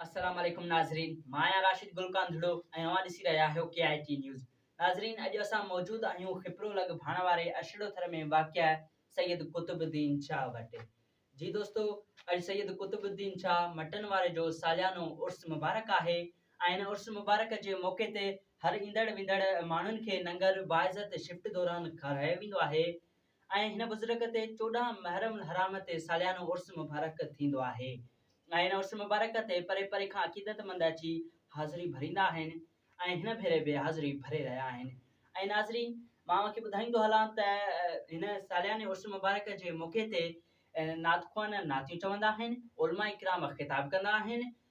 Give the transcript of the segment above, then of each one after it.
السلام عليڪم ناظرين مان آهيان راشد گل ڪانڌڙو ۽ اوهان ڏسي رهيا آهيو ڪي آء ٽي نيوز ناظرين اڄ اسان موجود آهيون خپرو لڳ ڀاڻ واري ارشڙو ٿر ۾ واقع سيد قطب الدين شاهه وٽ جي دوستو اڄ سيد قطب الدين شاهه مٽن واري جو ساليانو عرس مبارڪ آهي ۽ ان عرس مبارڪ جي موقعي تي هر ايندڙ ويندڙ ماڻهن کي ننگر باعزت شفٽ دوران کارايو ويندو آهي ۽ هن بزرگ تي چوڏهن محرم الحرام تي ساليانو عرس مبارڪ ٿيندو آهي ۽ هن عرس مبارڪ تي پري پري کان عقيدتمند اچي حاضري ڀريندا آهن ۽ هن ڀيري به حاضري ڀري رهيا آهن ۽ ناظرين مان اوهان کي ٻڌائيندو هلان ته هن سالياني عرس مبارڪ جي موقعي تي نعت خوان نعتيون چوندا آهن علماء اڪرام خطاب ڪندا آهن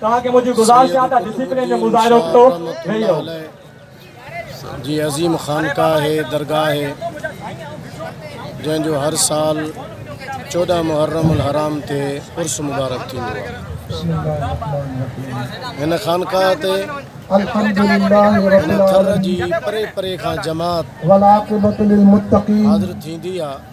توهان کي منهنجي گذارش آهي ته ڊسپلين جو مظاهرو ڪيو ويهي رهو. جي عظيم خانقاهه درگاهه آهي جنهن جو هر سال چوڏهن محرم الحرام تي عرس مبارڪ ٿيندو آهي هن خانقاهه تي هن ٿر جي پري پري کان جماعت حاضر ٿيندي آهي.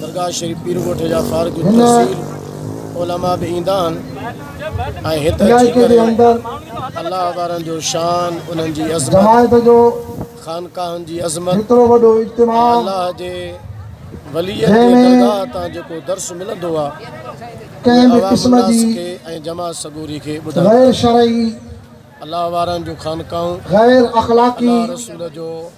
درگاهه شريف پير ڳوٺ جا فارغ التحصيل علماء به ايندا آهن ۽ هت اچي ڪري الله وارن جو شان انهن جي عظمت خانقاهن جي عظمت الله جي ولي جي درگاهه تان جيڪو درس ملندو آهي ڪنهن به قسم جي ۽ جماعت سڳوري کي ٻڌائي غير شرعي الله وارن جو خانقاهون غير اخلاقي الله رسول جو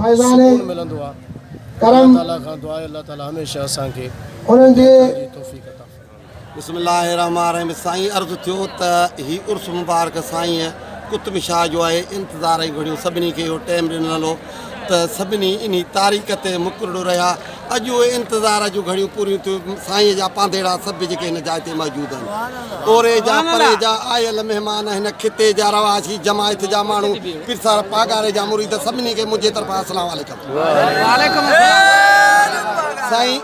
فيضان ڪرم انهن جي بسم الله الرحمٰن الرحيم سائين عرض ٿيو ته هي عرس مبارڪ سائين قطب شاهه جو آهي انتظار ۽ گهڙيون سڀني کي اهو ٽيم ڏنل هو ته سڀني انهي تاريخ تي مڪرڙو رهيا اڄ اهي انتظار جون گهڙيون پوريون ٿيون، سائينء جا پانڌيئڙا سڀ جيڪي هن جاء تي موجود آهن، اوري جا، پري جا، آيل مهمان، هن خطي جا رهواسي، جماعت جا ماڻهو، پيرسر پاڳاري جا مريد، سڀني کي منهنجي طرفان السلام عليڪم. سائين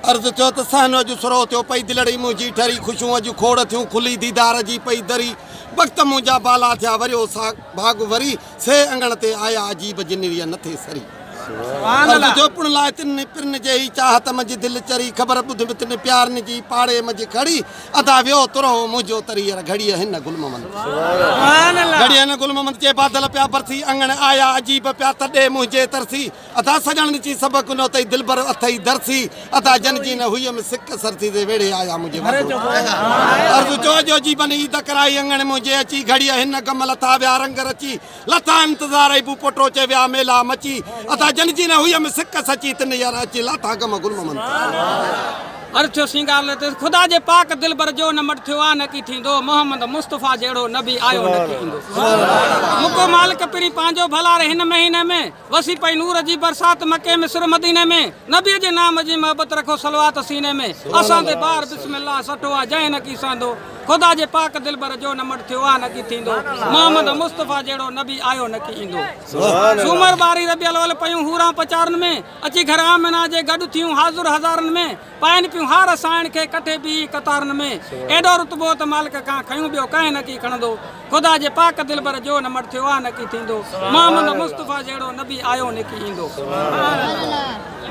عرض ٿيو ته صحن اڄ سرهو ٿيو، پئي دلڙي منهنجي ٺري، خوشيون اڄ کوڙ ٿيون، کلي ديدار جي پئي دري، وقت منهنجا بالا ٿيا، وريو ساڳ ڀاڳ وري. سي اڱڻ تي آيا عجيب جن ويئن نه ٿي سري. عرض جو پڻ لاء تن ني پرن جي هي چاهت منجهه دل چري خبر ٻڌ مت ني پيار ني جي پاڙي منجهه کڙي ادا ويو ترهو منهنجو ترير گهڙيء هن گل ممند گهڙيء هن گل ممند جي بادل پيا برسي اڱڻ آيا عجيب پيا تڏي منهنجي ترسي. ادا سڄڻ ڏچي سڀ ڪنو اٿئي دلبر اٿئي درسي ادا جن جي نه هئي م سڪ سرسي دي ويڙهي آيا منهنجي وڌو عرض جو جو جي بن عيد ڪرائي اڱڻ منهنجي اچي گهڙيء هن گم لٿا ويا رنگ رچي لٿا انتظار ايبو پوٽو چي ويا ميلا مچي ادا جن جي نه هئي م سڪ سچي تن يار اچي لاٿا گم گل ممن تي عرض ٿيو سينگار لتيس خدا جي پاڪ دلبر جو نه مٽ ٿيو آ نه ڪي ٿيندو محمد مصطفي جهڙو نبي آيو نه ڪي ايندو مڪو مالڪ پرين پنهنجو ڀلا ري هن مهيني ۾ وسي پئي نور جي برسات مڪي ۾ سر مديني ۾ نبي جي نام جي محبت رکو صلوات سيني ۾ اسان تي بار بسم الله سٺو آ جنهن نه ڪي سهندو خدا جي پاڪ دلبر جو نه مڙ ٿيو آ نه ڪي ٿيندو محمد مصطفي جهڙو نبي آيو نه ڪي ايندو سومر ٻاري ربيع الاول پيون حوران پچارن ۾ اچي گهر آمنه جي گڏ ٿيون حاضر هزارن ۾ پائين پيون هار سائڻ کي ڪٺي بيهي قطارن ۾. ايڏو رتبو ته مالڪ کان کنيون ٻيو ڪنهن نه ڪي کڻندو. خدا جي پاڪ دلبر جو نه مڙ ٿيو آ نه ڪي ٿيندو. محمد مصطفيٰ جهڙو نبي آيو نه ڪي ايندو.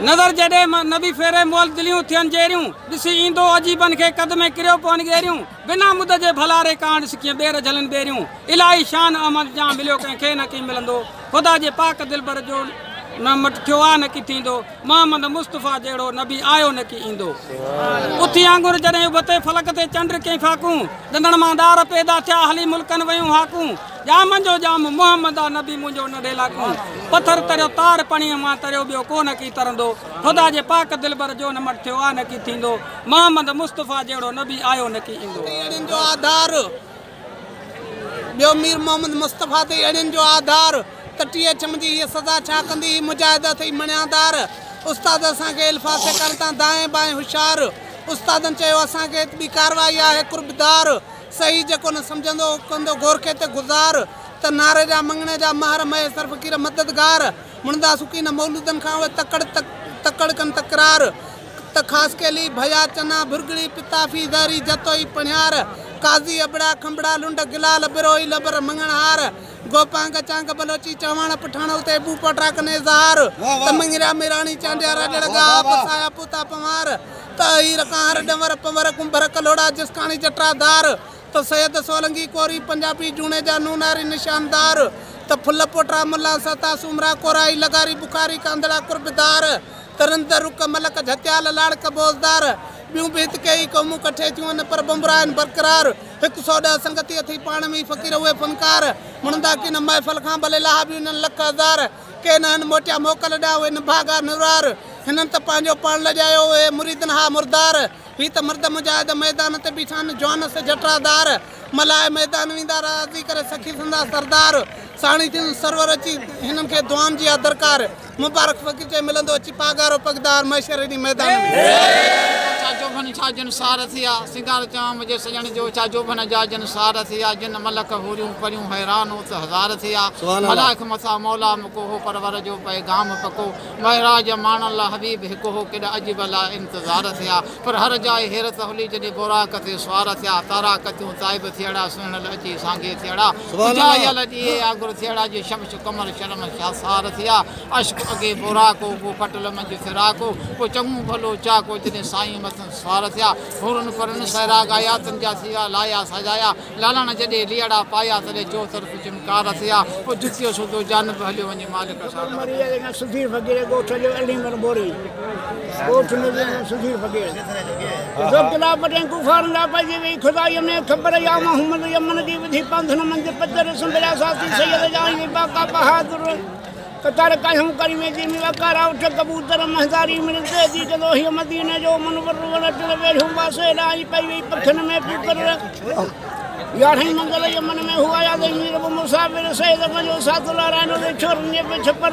نظر جڏهن نبي ڦيري مئل دليون ٿين جيريون. ڏسي ايندو عجيبن کي قد ۾ ڪريو پون ڳيريون. بنا مد جي ڀلاري ڪانڊ سڪين ٻير جهلن ٻيريون الاهي شان احمد جان مليو ڪنهن کي نه ڪين ملندو خدا جي پاڪ دلبر جو نه مٽ ٿيو آ نه ڪي ٿيندو محمد مصطفيٰ جهڙو نبي آيو نه ڪي ايندو اٿي آنگر جڏهن ابتي فلڪ تي چنڊ ڪين فاڪون ڏندڻ مان ڏار پيدا ٿيا هلي ملڪن ويون هاڪون ڄامن جو ڄام محمد آ نبي منهنجو نه ڊيلاڪون پٿر تريو تار پڻيء مان تريو ٻيو ڪو نه ڪي ترندو خدا جي پاڪ دلبر جو نه مٽ ٿيو آ نه ڪي ٿيندو محمد مصطفيٰ جهڙو نبي آيو نه ڪي ايندو. تي اهڙين جو آڌار ٻيو مير محمد مصطفيٰ تي اهڙين جو آڌار ته ٽي ايڇ ايم جي هيء سزا ڇا ڪندي هي مجاهد اٿئي مڻيا دار استاد اسان کي الفاظ سيکارين تان دائين بائين هوشيار استادن چيو اسان کي ته ٻي ڪارروائي آهي قرب دار صحيح جيڪو نه سمجهندو هو ڪندو گورکي تي گذار ته نعري جا مڱڻي جا مهر مهيسر فقير مددگار مڙندا سڪين مولودن کان اهي تڪڙ تڪڙ ڪن تڪرار ته خاصخيلي، ڀيا، چنا، ڀرڳڙي، پتافي، زهري، جتوئي، پڻهيار، قاضي، ابڙا، کنڀڙا، لنڊ، گلال، ٻروهي، لبر، مڱڻهار، گوپانگ، چانگ، بلوچي، چهواڻ، پٺاڻ، اتي، ٻون، پوٽرا، ڪن، اظهار، ته مڱريا، ميراڻي، چانڊيا، راڄڙ، ڳاها، پسايا، پوتا، پنهوار، ته اهير، ڪانهر، ڏنور، پنور، ڪنڀر، ڪلهوڙا، جسڪاڻي، جٽرا، ڌار، ته سيد، سولنگي، ڪوري، پنجابي، جوڻيجا، نوناري، نشاندار، ته ڦل، پوٽرا، ملان، سهتا، سومرا، ڪورائي، لغاري، بخاري، ڪانڌڙا، قربدار، ترندر رڪ ملڪ جهتيال لاڙڪ بوزدار ٻيون به هت ڪيئي قومون ڪٺي ٿيون ان پر ٻنبرا آهن برقرار هڪ سؤ ڏهه سنگتي اٿئي پاڻ ۾ ئي فقير اهي فنڪار مڙندا ڪين محفل کان ڀلي لاها به انهن لک هزار ڪي نهن موٽيا موڪل ڏانهن اهي نڀاڳا نرار هنن ته پنهنجو پاڻ لڄايو اهي مريدن ها مردار هي ته مرد مجاهد ميدان تي بيٺا آهن جوانس جٽرا دار ملهائي ميدان ويندا راضي ڪري سخي سندس سردار ساڻي ٿيندس سرور اچي هنن کي دعائن جي آ درڪار. مبارڪ فقير چئي ملندو اچي پاڳارو پڳدار محشر ايڏي ميدان ۾. ڇا جوڀن ڇا جن سار ٿيا سينگار چيان منهنجي سڄڻ جو ڇا جوڀن جا جن سار ٿيا جن ملڪ حوريون پريون حيران ات هزار ٿيا ملائڪ مٿا مولا مڪو هو پرور جو پيغام پڪو معراج ماڻڻ لا حبيب هڪ هو ڪيڏا عجب لا انتظار ٿيا پر هر جاء حيرت هلي جڏهن بوراڪ تي سوار ٿيا تارا ڪتيون تائب ٿيئڙا سهڻل اچي سانگي ٿيئڙا اجايل ڏيئي آڳر ٿيئڙا جي شمش قمر شرم شاهسار ٿيا، عشق اڳي بوراڪو، پوء کٽل منجهه فراڪو، پوء چڱو ڀلو چاڪو، جڏهن سائين مٿن سوار ٿيا، حورن پرين سهرا ڳايا، تن جا سيرا لايا سجايا، لالاڻا جڏهن ليئڙا پايا، تڏهن چوطرف چمڪار ٿيا، پوء جتيو سوڌو جانب هليو وڃي مالڪ سان. سڌير فقير ڳوٺ جو علي مھر بوري ڳوٺ ۾ سڌير فقير. جو قلعه پٽين ڪفارن لاء پئجي ويئي خدائيء ۾ خبر يا محمد يمن جي وڌي پنٿن منجهه پچر سنبريا ساٿي سيد جان جي باقا بهادر قطر ڪاهيون ڪريمي جي ميوا ڪارا اٺ ڪبوتر مهداري مڙ تهدي ڪندو هيء مديني جو منور وڻ ٽڻ ويڙهيون واسي ڏانهن پئي ويئي پکين ۾ پوڪر يارهين منزل يمن ۾ هو آيا تي مير ابو مصعب بن سعيد پنهنجو ساٿو لارائڻو تي ڇورن جي به ڇپر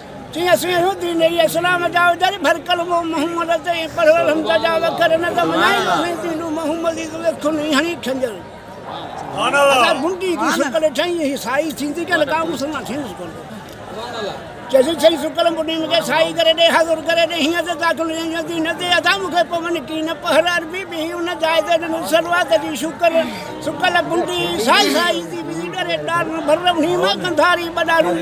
چي اسين اهو دين ۽ اسلام جا اجري ڀرڪل مون محمد تي ۽ پڙهيل حمزه جا وکر نه ته مڃائين اسين دينون محمدي تون اکيون ۽ هڻي کنجر ادا بنڊي جي شڪل ٺهين هي سائي ٿيندي ڪنهن ڪا مسلمان ٿيندس ڪونه چيسين سائين سڪل بنڊي مون کي سائي ڪري ڏي حاضر ڪري ڏي هيئن ته داخل هيئن جو دين تي ادا مون کي پون ڪين پهر عربي به هي ان جاء تي ڏنو سروات جي شڪل سڪل بنڊي سائي سائي ٿي ويندي ڏري ڏارن ڀرم هي مان ڪنڌاري ٻڏارون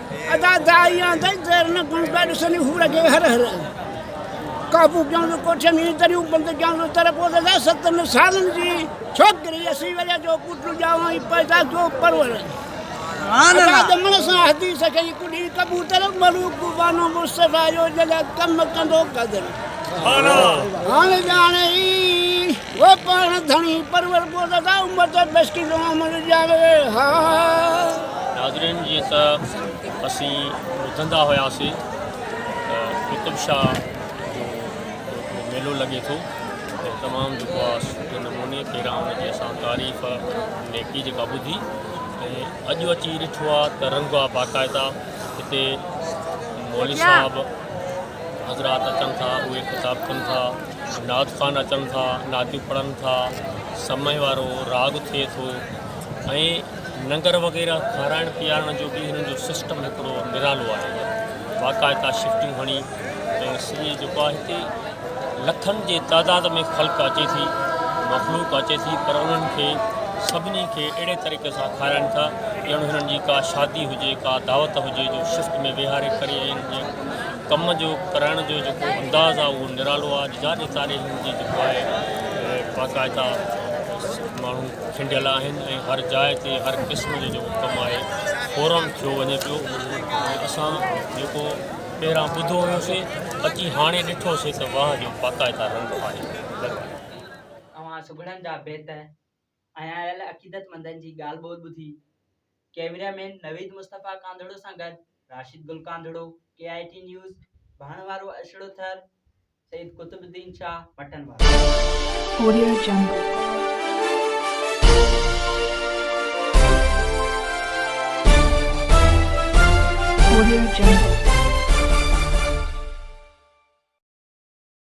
ادا دائي آن دائي دير نه گڻ پيا ڏسن هو رڳي هر هر قابو ڪيون جو ڪوٺين جي دريون بند ڪيون جو تر پوء دادا ستن سالن جي ڇوڪري اسي ويا جو پٽ ڄاوا ۽ پيدا جو پرور ادا دمن سان حديث کي ڪڏي ڪبوتر ملوڪ بانو مصطفي جو جلا ڪم ڪندو قدر هاڻي ڄاڻي و پاڻ ڌڻي پرور پوء دادا عمر تي بيسڪي جو عمل ڄاوي ها. ناظرين جيئن ته اسين ٻڌندا هياسي ته قطب شاهه جو جيڪو ميلو لڳي ٿو ۽ تمام جيڪو آ سٺي نموني پهريان ان جي اسان تعريف نيڪي جيڪا ٻڌي ۽ اڄ اچي ڏٺو آ ته رنگ آ باقاعده هتي مولوي صاحب حضرات اچن ٿا اهي خطاب ڪن ٿا دائود خان اچن ٿا، نعتيون پڙهن ٿا، سمهي وارو راڳ ٿئي ٿو ۽ ننگر وغيره کارائڻ پيارڻ جو به هنن جو سسٽم هڪڙو نرالو آهي باقاعده شفٽون هڻي ۽ سڄي جيڪو آهي هتي لکن جي تعداد ۾ خلق اچي ٿي مخلوق اچي ٿي پر انهن کي سڀني کي اهڙي طريقي سان کارائن ٿا ڄڻ هنن جي ڪا شادي هجي ڪا دعوت هجي جو شفٽ ۾ ويهاري ڪري ۽ ڪم جو ڪرڻ جو جيڪو انداز آهي اهو نرالو آهي اڄ جاڏي تاريخ جي جيڪو آهي باقاعده ماڻهو کنڊيل آهن ۽ هر جاء تي هر قسم جو جيڪو ڪم آهي فورم ٿيو وڃي پيو ۽ اسان جيڪو ٻهران ٻڌو هيوسي اچي هاڻي ڏٺوسي ته واهه جو باقاعده رنگ آهي اوهان سگهڙن جا بيت ۽ آيل عقيدتمندن جي ڳالهه ٻولهه ٻڌي. ڪيميرا مين نويد مصطفيٰ ڪانڌڙو سان گڏ Rashid Gul Kandhro, K I T news, ڀاڻ وارو اشڙو ٿر، سيد قطب الدين شاهه، مٽن وارو.